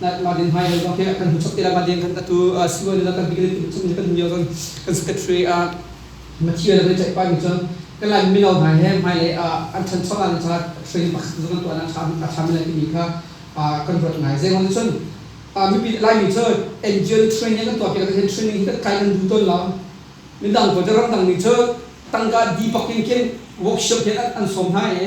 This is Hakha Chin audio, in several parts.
Martin hmailei zong khi kan hun sok te le Martin kan ka tu suwa ne kan bigli tu chung kan mio zong kan secretary a Mathia le ceih pa mi cun kan lai mino hna he hmailei an chan chong an cha training pakhat zong tuan an cham a cham le timi kha kan ruat ngai zengong cun mipi lai mi cun NGO training kan tuah piak kan training hi kan kai nan du ton lo mindang ko te ram dang mi cun tangka di pakin kin workshop hin an som hna e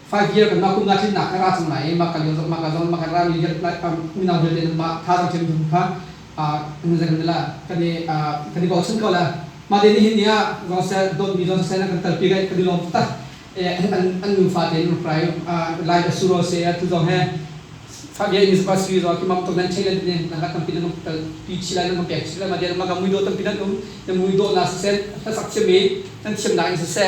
Five year kan mah kum na tlinnak ka ra cang lai i mah ka lian mah ka zong mah ka ra million mino vialte nan mah tha cang ṭem kha kan kan la kan i kan i bochan ko la mah te ni hin ni ah zong dawtmi zong sel kan talpi gai kan i lawm tak an nufa te in rai lai da suro se tu zong he Five year in is bus visa ki mam to nan chai lan ne na ga tampi nan tal pi chi lai nan pek chi lai ma de ma ga mui do tampi nan um na mui do na sen ta sak che me kan thiam na in se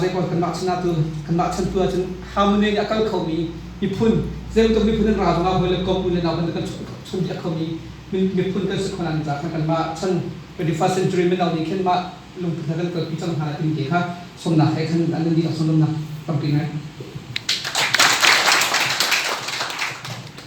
zeikawl kanmah chan ah cun kanmah chan tu ahcun harmony nih a kal khomi miphun zeibantuk miphun kan ra zongah hawi le kom u le nau kan kan chun piak khomi miphun kan si khon an za kanmah chan 21st century min nih khin mah lungput na kan kalpi cang hna tin ke kha somnak he khan an nan dihlak sunglamnak tampi ngai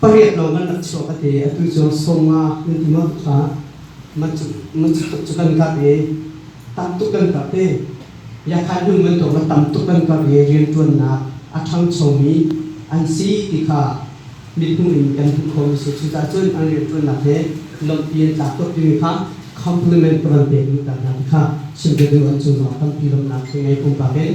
Pariat lawng kan rak chuah ka ti. Atu cu sawma kan ti mang kha man cu kan karh i tam tuk kan karh te. Yakhan hnu man tawng tam tuk kan karh i riantuannak a ṭhangchomi an si ti kha mithmuh in kan hmuh khomi si. Cucaah cun an riantuannak he lawmhpi an tlak tuk timi kha compliment ka van pek luhter hna ti kha chim ka duh. An cung zong tampi lawmhnak ka ngei pumpak in.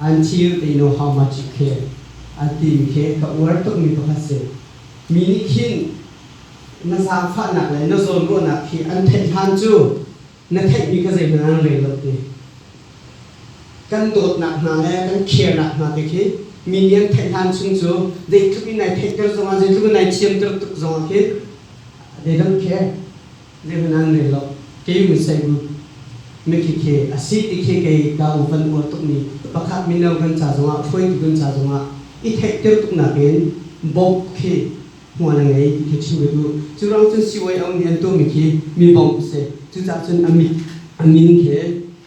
an thir te no how much khe an tin khe ka uar tukmi pakhat si mi nih khin na zaangfahnak le na zawlruahnak khi an theih hlan cu na theihmi ka zeiman an rel lo ti kan dawtnak hna le kan kheernak hna te khi mi nih an theih hlan chung cu zeitluk in nai theihter zongah zeitluk in nai thiamter tuk zongah khin dei lo khe Rian an rel lo. Kei Museum mikik hi a si ti khi kei Daung Van uar tukmi pakhat mino kan ca zongah, hruaitu kan ca zongah i theihter tuk nakin bawmh khi hmual a ngei ti khi chim ka duh. Cu ruang cun CYO nih an tuahmi khi mi bawmh a si. Cucahcun a mit, a min khi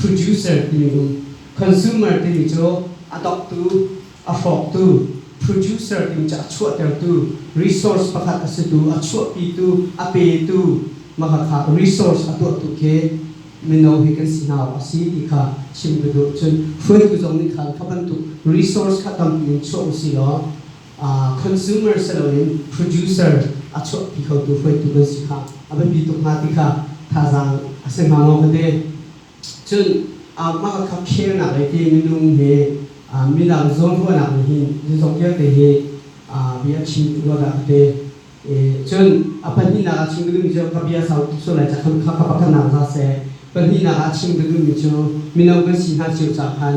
producer timi um. Consumer timi cu a doktu, a hrawktu, producer timi cu a chuahtertu, resource pakhat a situ, a chuahpitu, a petu, makhakha resource a tuahtu khi mino hi kan si hna a si ti kha chim ka duh. Cun hruaitu zong nih khan kha bantuk resource kha tampi in chuah u si law consumer si loin producer a chuahpi khotu hruaitu kan si kha a biapi tuk hnga ti kha thazaang a si hnga maw ka ti. Cun mah kha khernak lei ti minung he midang zawnruahnak nih hin zong vialte hi bia a chim rua dah ka ti. Cun a pahnihnak a chim ka duhmi cu ka bia sau tuk sual lai cakhan kha ka pakhatnak za seh. Pahnihnak ah a chim ka duhmi cu mino kan si hna cio caah khan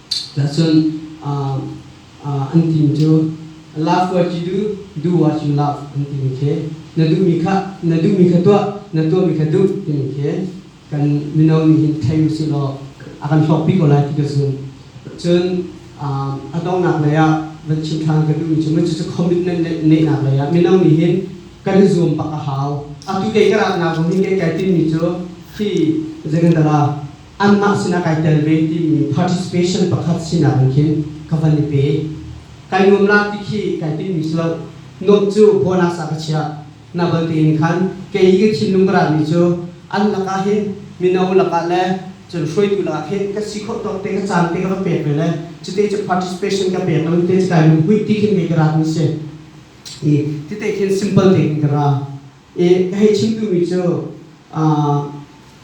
Tahcun an tin cu love what you do, do what you love an timi khi na duhmi kha na duhmi kha tuah na tuahmi kha duh timi khi kan mino nih hin thei usih law a kan hlawkpi ko lai ti ka zum. Cun a donghnak lei ah van chim ṭhan ka duhmi cu cucu commitment neihnak lei ah mino nih hin kan i zuam bak a hau. Atu kei ka ratnak zong hi kai kai timmi cu hi zei kan tala anmah sinah kai tel ve timi participation pakhat sinak in khin ka van i pe. Kai nuamnak ti khi kai timmi si lo. Nuamh cu bawhnak sa ka chiah. Na bal tein khan kei i ka thinlung ka rami cu an lakah hin mino lakah le cun hruaitu lakah khin ka si khawh tawk te, ka caan te ka va pek ve le cute cu participation ka pek lo i te cu kai lungkuih ti khin kei ka ratmi a si. I tite khin simple tein ka ra. I ka hei chimtu mi cu uh,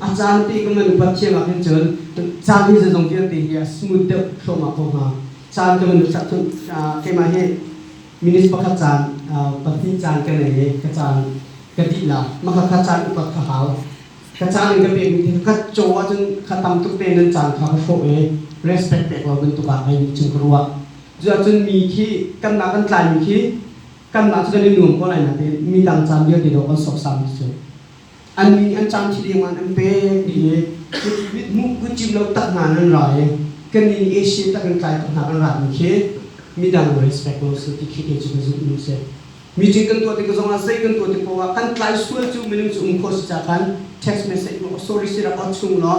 A caan te kan kan upat thiam ahhin cun caan hi zazong vialte hi a smooth deuh thluahmah ko hna. Caan kan kan chak cun keimah hi minutes pakhat caan pahnih caan ka nei i ka caan ka dihla maka kha caan upat ka hau ka caan in ka pekmi thil ka caw ahcun kha tam tuk te nan caan kha ka hrawh i respect pek lo bantuk ah kai chung ka ruah cuahcun mi khi kanmah kan tlaimi khi kanmah cu kan i nuam ko lai natein mi dang caan vialte dawh kan sawksam cu an mi an cang thi ding an an pek mi hi cu mithmuh kan cim lo tak hna nan ra i kan nih Asia tak in tlai tak hna kan ra mi khi midang respect ko su ti khi kei cu ka zumh nu si meeting kan tuah tik zong ah zei kan tuah tik poah an tlai sual cu minung cu um kho si ca kan text message ma oh sorry sira oh chung law